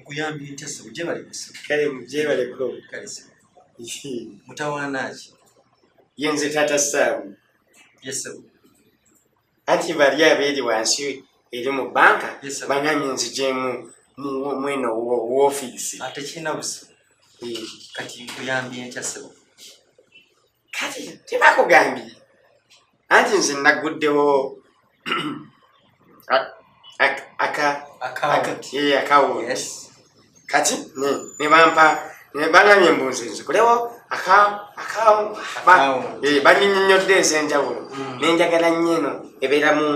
nkuyambye ntya sebo gyebale kusa kale gyebaleko kale sebo mutawaana ki ye nze taata saamu ye sebo anti bali abeeri wansi eri mu banka banami nzijemu mweno wofiisi ah, tekirina buzibu eh. kati nkuyambye ntya sebo kati tebakugambye anti nze naguddewo kati nebampa nebangambye mbunze nze kulewo eh, banyinyonyodde ezenjawulo hmm. nenjagala nnyo eno ebeeramu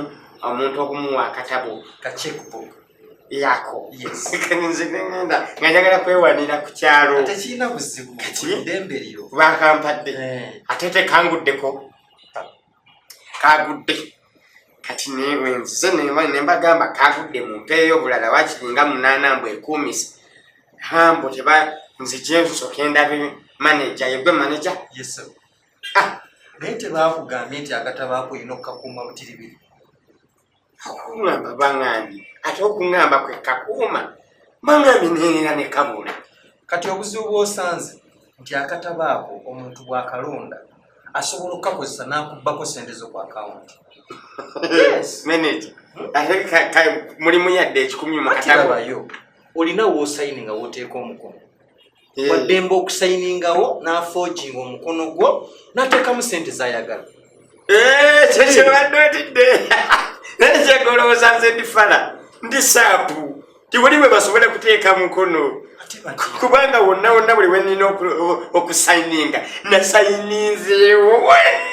omuntu okumuwa akatabo yako nze nengenda nga njagala kwewanira ku kyalo bakampadde eh. ate tekanguddeko kagudde kati newenzize nembagamba kagudde mumpeeyo obulala wakiringa munaana mbu ekuumisa hambo teba nzijensoke ndabe maneja yegwe maneja ah. naye tebakugambye nti agatabaako olina okukakuuma butiribiri akungamba bangambye ate okungamba kwe kakuuma bangambye nenera ne kabula kati obuzibu bwosanze nti akataba ako omuntu bwakalonda asobola okukakozesa nakubbako sente zo ku akawunti mulimu yadde ekikumi mukatabayo olina wosaini nga woteeka omukono eh. waddemba okusayiningawo n'afojinga omukono gwo n'ateekamu sente zayagala eh, kyekyebadde otidde naye kyegolowooza nze ndi fala ndi saapu tiwuli bwe basobole kuteeka mukono kubanga wonna wonna buli wenina okusayininga nasayininzeewo wonna